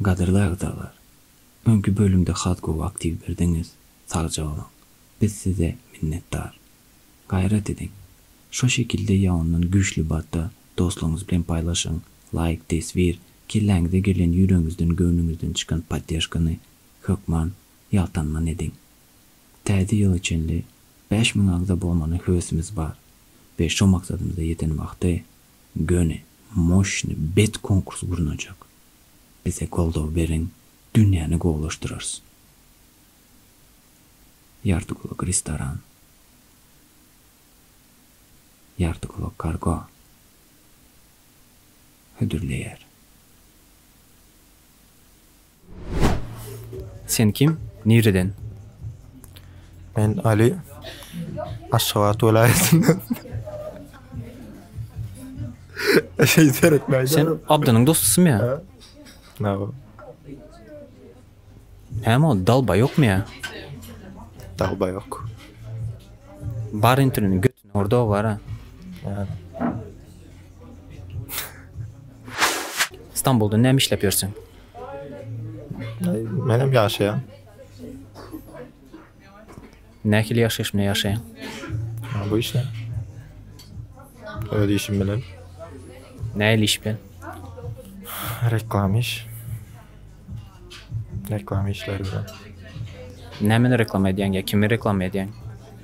Gadyrly agzalar, öňki bölümde has gowy aktiw berdiňiz, sagja boluň. Biz size minnetdar. Gaýrat ediň, şo şekilde ýa ondan güýçli batda dostlaryňyz bilen paýlaşyň, laýk, teswir, kelläňize gelen ýüregiňizden, göwnüňizden çykan poddežkany hökman ýaltanman ediň. Täze ýyla çenli bäş müň agza bolmaly höwesimiz bar we şo maksadymyza ýeten wagty göni moşny bet konkurs gurnajak. Bize goldaw beriň dünýäni gowulaşdyrarys. Ýarty gulak restoran. Ýarty gulak kargo. Hödürleýär. Sen kim? Nireden? Men Ali. Aşgabat welaýatyndan. Şey seretmäýdi. Sen Abdynyň dostusymy ýa? Na bu. Näme ol dalba ýokmy ýa? Dalba yok. Bar interneti göt. Orda bara. İstanbul'da näme işläp ýörsiň? Men hem ýaşaýan. Nähili ýaşaýyş bilen ýaşaýaň? Bu işle. Öz işim bilen. Nähili iş bilen? Reklam iş. Reklam işleri bilen. Nämeni reklama edýäň ýa kimi reklama edýäň?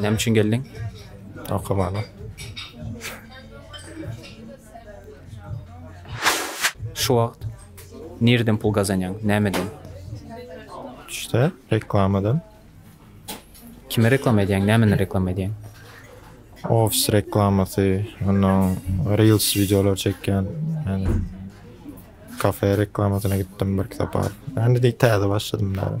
Näme üçin geldiň? Okamaga. Şu wagt nireden pul gazanýaň? Nämeden? Düşde reklamadan. Kime reklama edýäň? Nämeni reklama edýäň? Ofis reklamasy, ondan Reels videolar çekýän. Yani kafe reklamasyna gitdim bir kitap al. Yani de täze başladım da.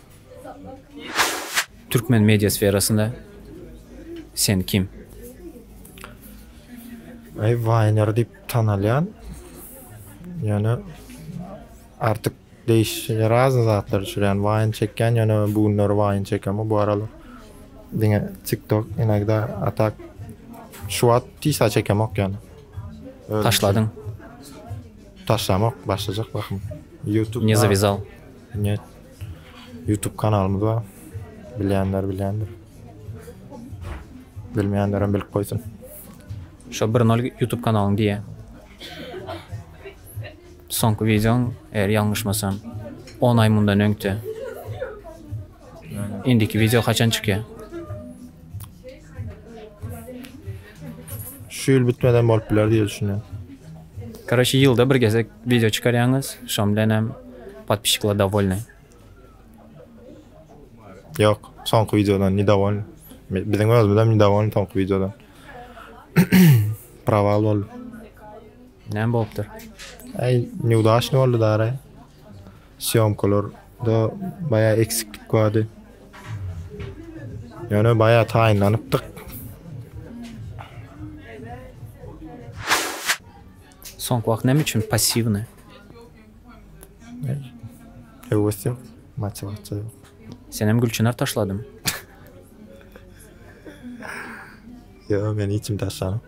Türkmen media sferasynda sen kim? Aý Wayner diýip tanalýan. Ýöne artyk değişen razny zatlar düşürýän. Waýn çekýän, ýöne bu günler waýn çekemok. Bu aralar diňe TikTok inogda atak şu wagt tisa çekemok ýöne. Taşladyň. Taşlamok, başlajak bahym. YouTube. Ne zavizal? Ne Youtube kanalymyz bar. Bilýänler bilýändir. Bilmeýänlerem bilip goýsun. Şo bir nol YouTube kanalyň diýe. Soňky wideoň eger ýalňyşmasam 10 aý mundan öňte. Indiki wideo haçan çykýar? Şu ýyl bitmeden bolup biler diýe düşünýän. Karoçe ýylda bir gezek wideo çykarýaňyz şoň bilenem podpisçiklar dowolnyý. Ýok, soňky wideodan nidowolny. Biziň özümizem nidowolny soňky wideodan. Prawal boldy. Näme bolupdyr? Äý, neudaçnyý boldy dara. Sýomkalarda baýa eksiklik bardy. Ýöne baýa taýynlanypdyk. Soňky wagt näme üçin passiwny? Höwes ýok, motiwasiýa ýok. Sen hem gülçynar taşladyň. Ýok, men hiç kim taşlanyp.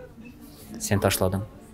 Sen taşladyň.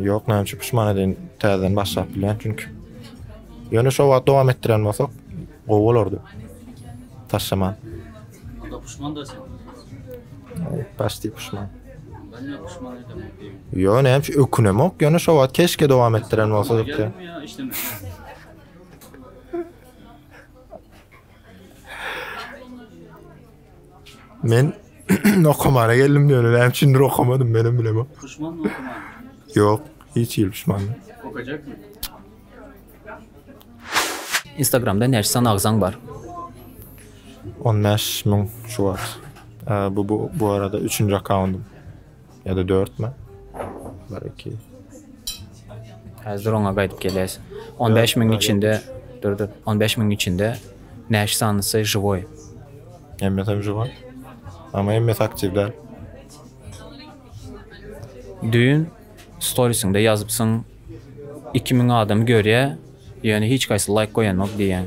Ýok, näme üçin pişman edin? Täzeden başlap bilýän çünki. Ýöne şo wagt dowam etdiren bolsak, gowy bolardy. Taşlaman. Onda pişman da sen. Başdy pişman. Ben ne pişman edem diýim. Ýöne näme üçin ökünemok? Ýöne şo wagt keşke dowam etdiren bolsa diýip. Geldim ya işleme. Men okamana geldim diýen ölen üçindir okamadym menem bilemok. Puşman mı okuman? Yok hiç il puşman. Okacak mı? Instagramda näçe san agzaň bar? 15 mün şu wagt. Bu bu arada 3-nji akkauntym. Ya da dört mü? Bir, iki. Häzir oňa gaýdyp gelýäs. 15 miniň içinde, dur dur, 15 miniň içinde näş sanysy žiwoý? Hemmesi hem žiwoý. Ama hemmesi aktiv däl. Düýn storisyňda ýazypsyň, 2000 adam görýä, ýöne hiç gaýsy laýk goýanok diýýäň.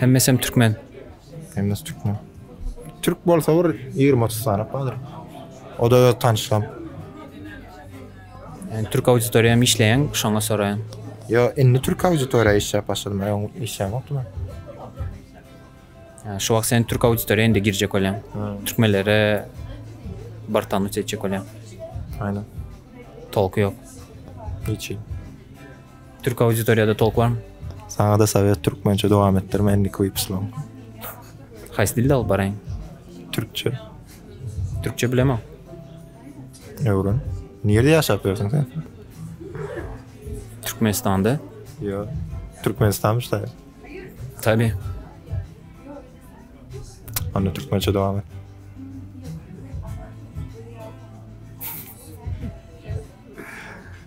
Hemmesem türkmen. Hemmesi türkmen. Türk bolsa bir 20-30 sany bardyr. O da öz tanyşlam. Yani Türk auditoriýam işleýän, şoňa soraýan. Yo, indi Türk auditoriýa işläp başladym, öň işläp ýokdy men. Yani şu wagt sen Türk auditoriýa indi girjek bolýan. Türkmenlere bir tanyş etjek bolýan. Aynen. Tolky ýok. Hiç. Türk auditoriýada tolk barmy? Saňa-da sowet türkmençe dowam etdirme indiki wypuslaň. Haýsy dilde alyp baraýyn? Türkçe. Türkçe bilemok. Öwren. Nirde ýaşap ýörsiň sen? Türkmenistanda. Ýo. Türkmenistanmyş da. Tabi. Onda türkmençe dowam et.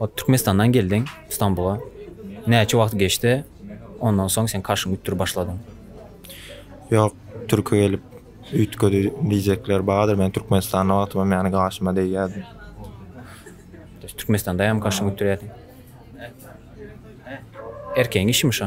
Ot Türkmenistandan geldiň Stambula. Näçe wagt geçdi? Ondan soň sen karşyň ütdür başladyň. Ýok, türki gelip üýtgedi diýjekler bardyr. Men Türkmenistanda wagtym hem ýany gaşyma degýärdi. Türkmenistanda hem gaşyňy ütdürýärdiň. Erkegiň işimi şo?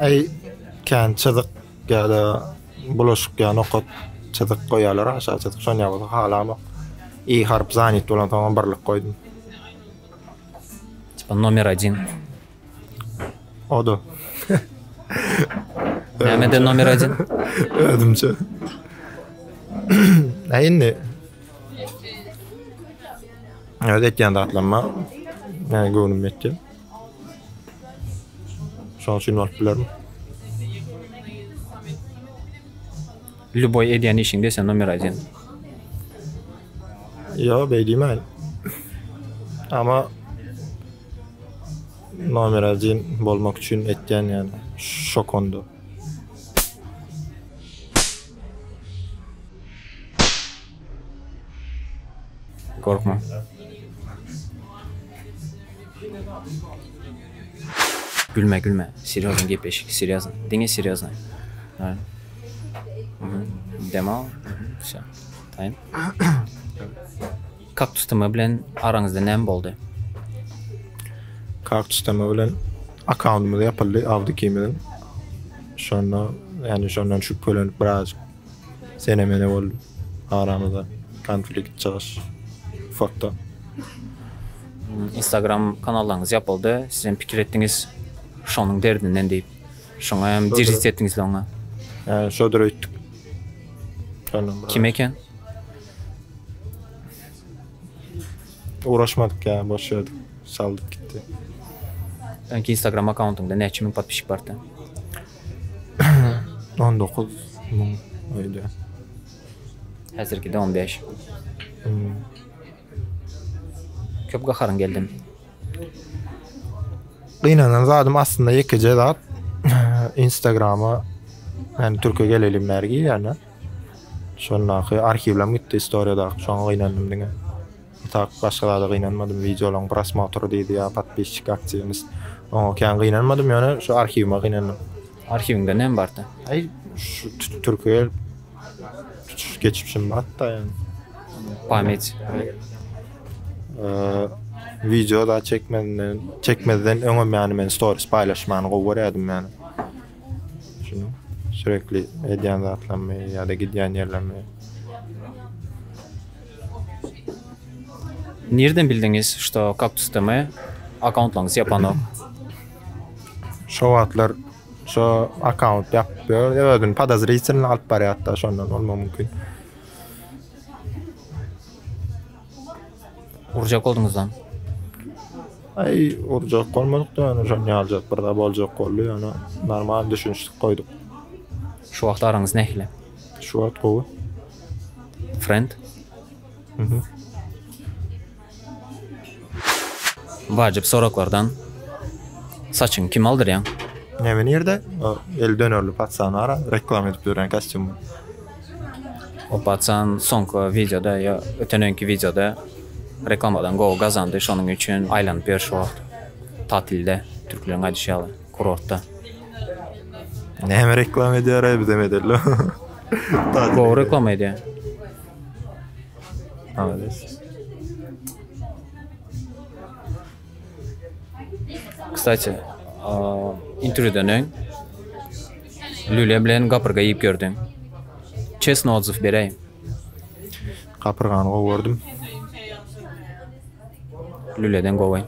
Eý kän çyzyk ýa-da bulaşyk ýa nokat çyzyk goýýarlar aşagy çyzyk şony ýa-da halamok. I harp zanit bolan soň birlik goýdum. Tipa nomer 1. Oda. Nämede nomer 1? Özümçe. Eý indi. Ödet ýan datlanma. Näme göwnüm etdi. Şoň üçin bolup bilermi? Lýuboý edýän işiňde sen nomer aýdýan. Ýok, beý diýmäýin. Ama nomer aýdýan bolmak üçin etýän ýaly şokonda. Gorkma. Gülme gülme. Serýozny gepleşik. Serýozny. Diňe serýozny. Ha. Demo. Şo. Taýyn. Kaktus tema bilen araňyzda näme boldy? Kaktus tema bilen akkauntymyz ýapyldy Awdikimiň. Şonda, ýani şondan şübhelenip biraz Sene mene boldy. Aramyzda konflikt çygyş fakta. Instagram kanallaryňyz ýapyldy. Siz hem pikir etdiňiz şonuň derdinden diýip. Şoňa hem dirjit etdiňiz loňňa. Hä, şodur öýtdük. Kim eken? Uğraşmadyk ya boş verdik. Saldık gitti. Önki Instagram akkauntyňda näçe müň podpişik bardy? On dokuz müň öýdýä. Häzirkide on beş. Köp gaharyň geldim. Gynanan zadym aslynda ýekeje zat. Instagrama yani Türkiýe gelelim bäri girýän-ä. Şondaky arhiwlerim gitdi istoriýadaky. Şoňa gynandym diňe. Utap başga zada gynanmadym wideolaň prosmotry diýdi ýa podpisçik aktiwimiz oňa kän gynanmadym ýöne şu arhiwime gynandym. Arhiwiňde näme barda? Aý şu türkiýe tutuş geçmişim barda ýöne. Pamýet. Wideo zat çekmezden çekmezden öňem ýany men storis paýlaşmany gowy görýärdim ýöne. Şunuň sürekli edýän zatlarymy ýa-da gidýän ýerlerimi. Nirden bildiňiz, şto kaktus TM akkauntlaryňyz ýapanok? Şo wagtlar şo akkaunt ýapyp ýör, özüni podozritelno alyp barýardy-da, şondan bolmagy mümkin. Urjak bolduňyzam. Aý, urjak bolmadyk-da, ýöne şony ýaljak bir zat boljak boldy, ýöne normal düşünişdik goýduk. Şu wagt araňyz nähili? Şu wagt gowy. Friend? Mhm. Wajyp soraklardan. Saçyňy kime aldyrýaň? Näme nirde? O el dönerli patsany ara, reklama edip ýören kostýumy. Opatsan soňky wideoda ýa öten öňki wideoda reklamadan gowy gazandy, şonuň üçin aýlanyp ýör şu wagt. Tatilde, türkleriň aýdyşy ýaly, kurortda. Näme reklama edýär-aý bizem edeli. Gowy reklama edýär. Malades. Kstati, interwýudan öň Lüle bilen gapyrga iýip gördüň. Çesno otzyw beräý. Gapyrgany gowy gördüm. Lüleden gowy.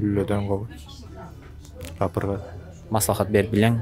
Lüleden gowy. Gapyrga. Maslahat berip bileňmi?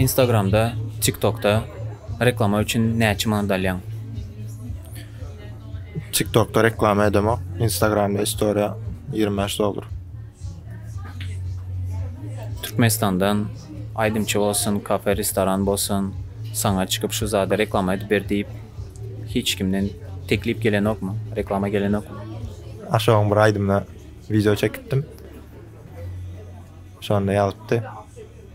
Instagramda, TikTokda reklama üçin näçe manat alýaň? TikTokda reklama edemok. Instagramda story 25 dollar. Türkmenistandan aýdymçy bolsun, kafe, restoran bolsun, saňa çykyp şu zady reklama edip ber diýip hiç kimden teklip gelenokmy, reklama gelenokmy? Aşogyň bir aýdymyna wideo çekipdim. Şonda ýazypdy.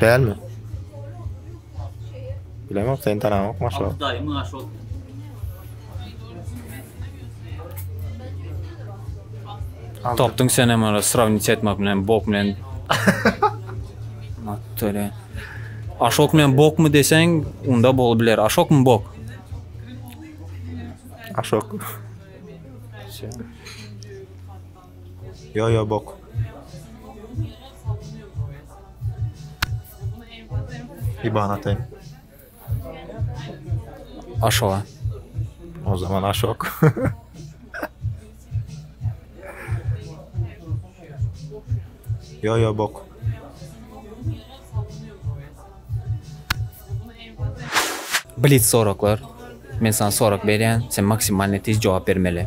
Dälmi? Bilemok, sen tanamok maşa. Altı dayı mı aşol? Tapdyň sen hem ara sravnit etmek bilen bok bilen. Mattöle. Aşok bilen bok mu desen, onda bol biler. Aşok mu bok? Aşok. Ýo ýo bok. Iban ataýyn. Aşoga. O zaman aşok. Ýo ýo bok. Blitz soraklar. Men sana sorak berýän, sen maksimalny tiz jogap bermeli.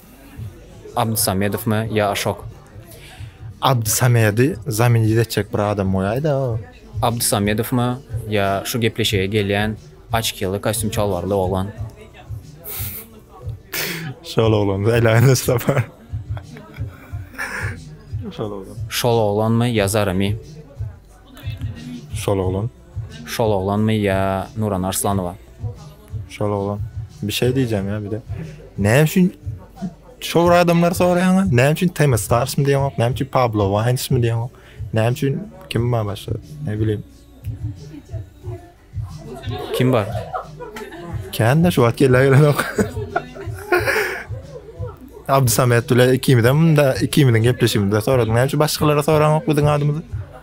Abdy Samedowmy ýa Aşok? Abdy Samedi zamin idetjek bir adam goýaýda. Abdy Samedowmy ýa şu gepleşige gelýän açkiýaly kostýum çalbarly oglan? Şol oglan saýlaýyn Mustafa. Şol oglan. Şol oglanmy ýa Zaremi? Şol oglan. Şol oglanmy ýa Nurana Arslanowa. Şol oglan. Bir şey diyeceğim ya bir de. Ne için şor adamlar soraýaňa? Ne için Temi Stars mı diýen ok? Ne için Pablo Wines mi diýen ok? Ne için kim bar başga? Ne bileyim. Kim bar? Kän de şu wagt gelle gelen ok. Abdusamet bile ikimizem de ikimiziň gepleşigimizde soradyň. Ne için başgalara soraň ok biziň adymyzy?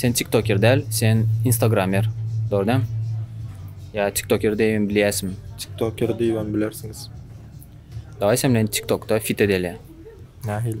Sen tiktoker däl sen instagramer dogry däm ýa tiktoker diýibem bilýäsmi. Tiktoker diýibem bilersiňiz. Dawaý sen bilen tiktokda fit edeli. Nähili?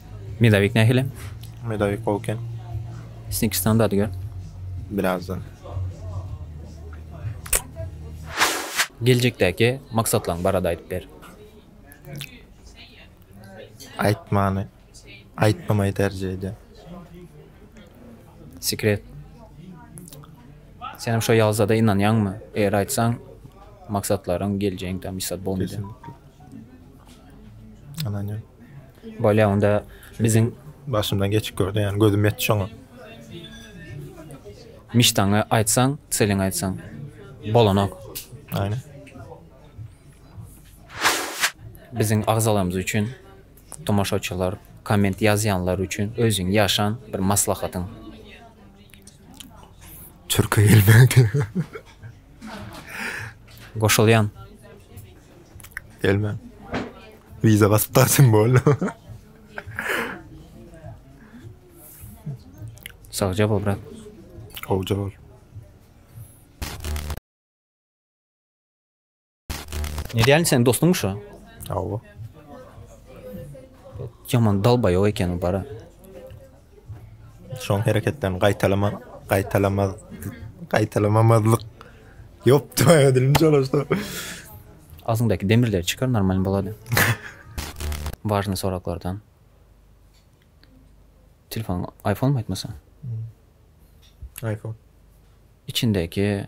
Medowik nähili? Medowik gowy eken. Snickisdan dady gör. Birazdan. Geljekdäki maksatlaň barada aýdyp ber. Aýtmany. Aýtmamaý terjih edýän. Sekret. Senem şo ýalza da ynanýaňmy? Eger aýtsaň maksatlaryň geljegiň tam isat bolmaýar. Ananya. Bolýa onda biziň başymdan geçip gördü yani gözüm yetdi şoňa. Miştaňa aýtsaň, Selin aýtsaň bolanok. Aynen. Biziň agzalarymyz üçin tomaşaçylar, komment ýazýanlar üçin özüň ýaşan bir maslahatyň. Türkiye gelmedi. Goşulýan. Gelme. Vize basyp tarsın bol. Sagja bol brat. Hoca bol. Ne diýen sen dostum şu? Awa. Yaman dalba yok ekeni bara. Şoň hereketlerini gaýtalama gaýtalama gaýtalamamazlyk Ýop, tüwä dilim çalyşdy. Agzyňdaky demirleri çykar normalny bolady. Wažnyý soraklardan. Telefon iPhone aýtmasa? iPhone. Içindäki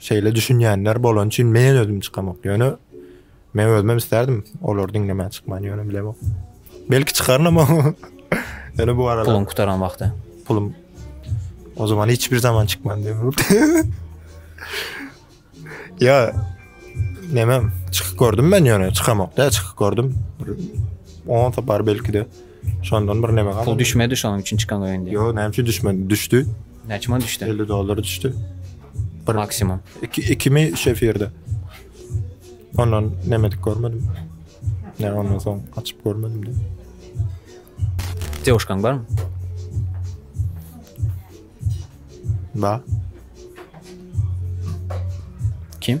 Şeýle düşünýänler bolany üçin men özüm çykamok. Ýöne men özüm isterdim olar diňlemän çykman ýöne bilemok. Belki çykaryn ama. Ýöne bu arada pulum gutaran wagty. Pulum. O zaman hiç bir zaman çykman diýip. Ýa neme çykyp gördüm men ýöne çykamok da çykyp gördüm. Onsa bar belki de. Şondan bir neme galdy. Pul düşmedi şonuň üçin çykan öýünden. Ýok, näme üçin düşmedi? Düşdi. Näçe man düşdi? 50 dollar düşdi. Bir maksimum. Iki, ikimi üç efirde. Ondan nemedik görmedim. Ne ondan soň açyp görmedim de. Dewuşkaň barmy? Ba. Kim?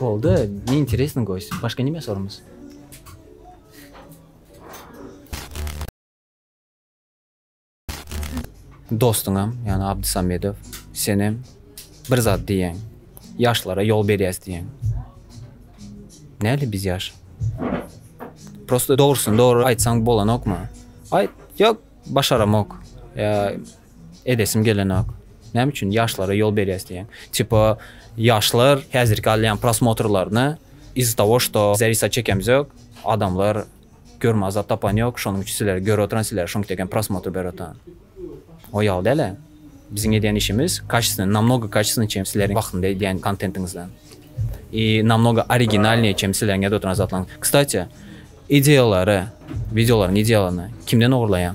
Boldy, ne interesno goýs, başga nime sorumyz? Dostuňam, ýagny Abdysamedow, senem bir zat diýýäň. Ýaşlara ýol berýäs diýýäň. Nädip biz ýaş? Prosta dogrusyny dogry aýtsaň bolanokmy? Aýt, ýok, başaramok. Ýa. edesim gelenok. Näme üçin ýaşlara ýol berýäs diýen. Tipa ýaşlar häzirki alýan prosmotrlaryny iz-za togo şto zarisa çekemiz ýok. Adamlar görmä zat tapan ýok. Şonuň üçin sizleri görüp oturan sizlere şoňki deken prosmotr berip oturan. O ýaly däle. Biziň edýän işimiz kaçestwne namnogo kaçestwne çem sizleriň wagtynda edýän kontentiňizden. I namnogo originalnýe çem sizleriň edip oturan zatlaryň. Kstati ideýalary, wideolaryň ideýalaryny kimden ogurlaýaň?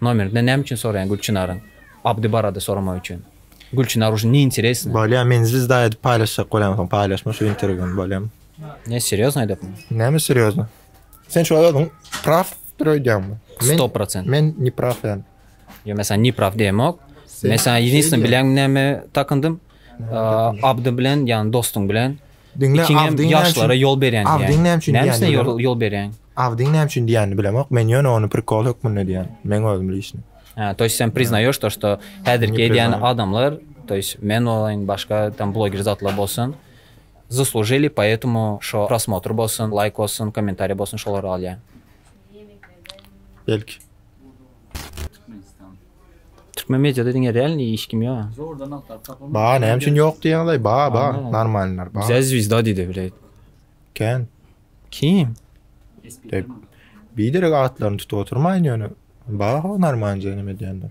Nomerinde näme üçin soraýaň Gülçinaryň Abdy barada soramak üçin. Gülçinar uşin ne interesno. Bolýa men zwizda edip paýlaşjak bolýan soň paýlaşma şu interwýuny bolýamy. Ne serýozno aýdypmy. Näme serýozno? Sen şuwagt özüň praw dyr öýdýäňmi? Sto prosent. Men nepraw ýaly. Ýok men saňa nepraw diýemok. Men saňa ýedinstne bilýäňmi näme takyndym? Abdy bilen yani dostuň bilen Diňle Abdyň ýaşlara ýol berýän. Abdyň näme üçin diýýän? Näme üçin ýol berýän? Abdyň näme üçin diýýänini bilemok. Men ýöne ony prikol hökmünde diýýän. Men özüm bilişim. Ha, to ýest sen priznaýaş to, şto häzirki diýýän adamlar, to ýest men bolaýyn, başga tam bloger zatlar bolsun. Zaslužili, poetому şo prosmotr bolsun, laýk bolsun, kommentariý bolsun, şolar alýan. Belki. Türkmen mediada diňe däl indi hiç kim ýok. Zordan agtaryp tapylmaz. Ba näme üçin ýok diýýäňiz? Ba ba Anlaýan. normalnylar ba. Bize zwizda diýdi bileýt. Kän. Kim? Dek. Biderek atlaryny tutup oturmaýyn ýöne ba ho normalny neme diýenler.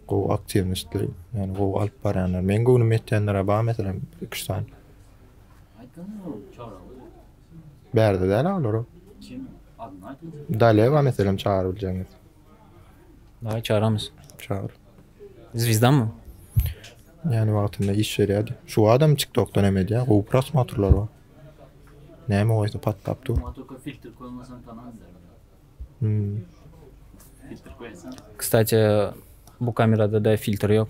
Gowy aktiwistler, ýani gowy alyp barýanlar. Meň göwnüm ýetýänler ba meselem 2-3 sany. Aýtganda ol çara goý. Bärde däl olar. Kim? Adyny aýt. Dale ba meselem çagyryp biljegiňiz. Daýy çaramyz. Çagyr. Zwizdamy? Ýany wagtynda iş berýärdi. Şu adam TikTokdan hem edýär. Gowy prosmotrlar bar. Näme goýsa patlap dur. Maňa tolko filtr koýmasaň tamam Hmm. Filtr koýasan. Kstati, bu kamerada da filtr ýok.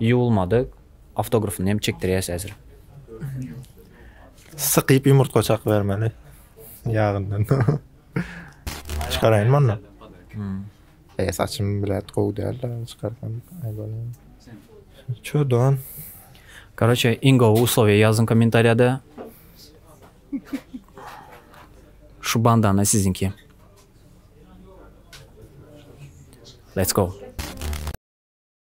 Ýuwulmadyk, awtografyny hem çekdirýäs häzir. Sykyp ýumurtga çak bermeli ýagyndan. Çykaraýynmy onda? Eý saçym bläd gowy dälda çykarsam eý bolýa. Çö don. Karoçe iň gowy uslowiýa ýazyň kommentariýada. Şu bandana siziňki. Let's go.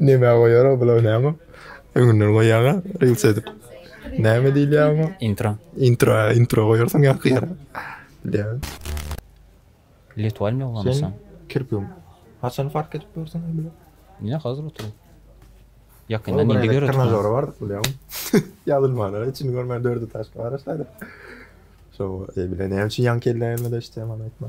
Nämä goýara bular näme? Öňünden goýýaňa reels edip. Näme diýilýär oňa? Intro. Intro, intro goýarsyň ýaňky ýere. Bilýän. Let walmi ulanmasaň. Kirpigim. Haçan fark edip görseň bile. Ine hazır oturyp. Ýakyndan indi görüp. Trenajera bardyk bilýäňmi? Ýazylmana içini görmän dört etažka garaşaýdyk. Şo bilen näme üçin ýaňky elläýmede işleýän maňa aýtma.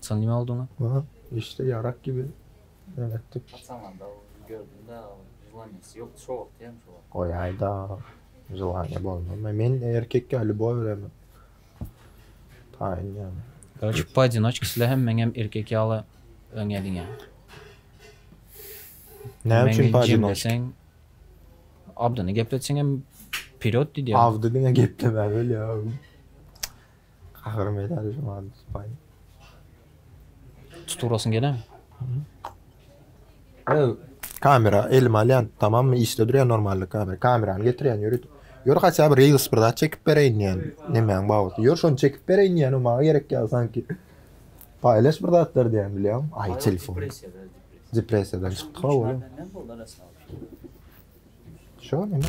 Sen nime olduňa? Aha, işte yarak gibi men etdik. Ataňada gördüm-de, želaniýasy ýokdy, şo wagtda hem şo. Goýaý-da, želaniýa bolmazmy? Men erkekkä lýubow beremen. Taýyn ýaly. Korçe, poodinoçka sizler hem meň hem erkek ýaly öňe diňe. Näme üçin poodinoçka? Meni jemleseň, Abdyny gepletseň hem wperýod diýdi ýa. Abdy diňe geplemäge bilýär. Ahyry medal Juman Dusbaý. Tutup urasyň gelämi? Ey, kamera elime alýan, tamammy, işde durýar normalny kamera. Kamerany getirýän, ýörit. Ýör hatda bir reels bir zat çekip bereýin diýýän. Nemäň babatda? Ýör şony çekip bereýin diýýän, o maňa gerek ýaly sanki. Paýlaş bir zatlar diýýän, bilýäňmi? Aý, telefon. Depressiýada, depressiýa. Depressiýadan çykdyk-a oglum. Menden boldy arassalam. Şo neme?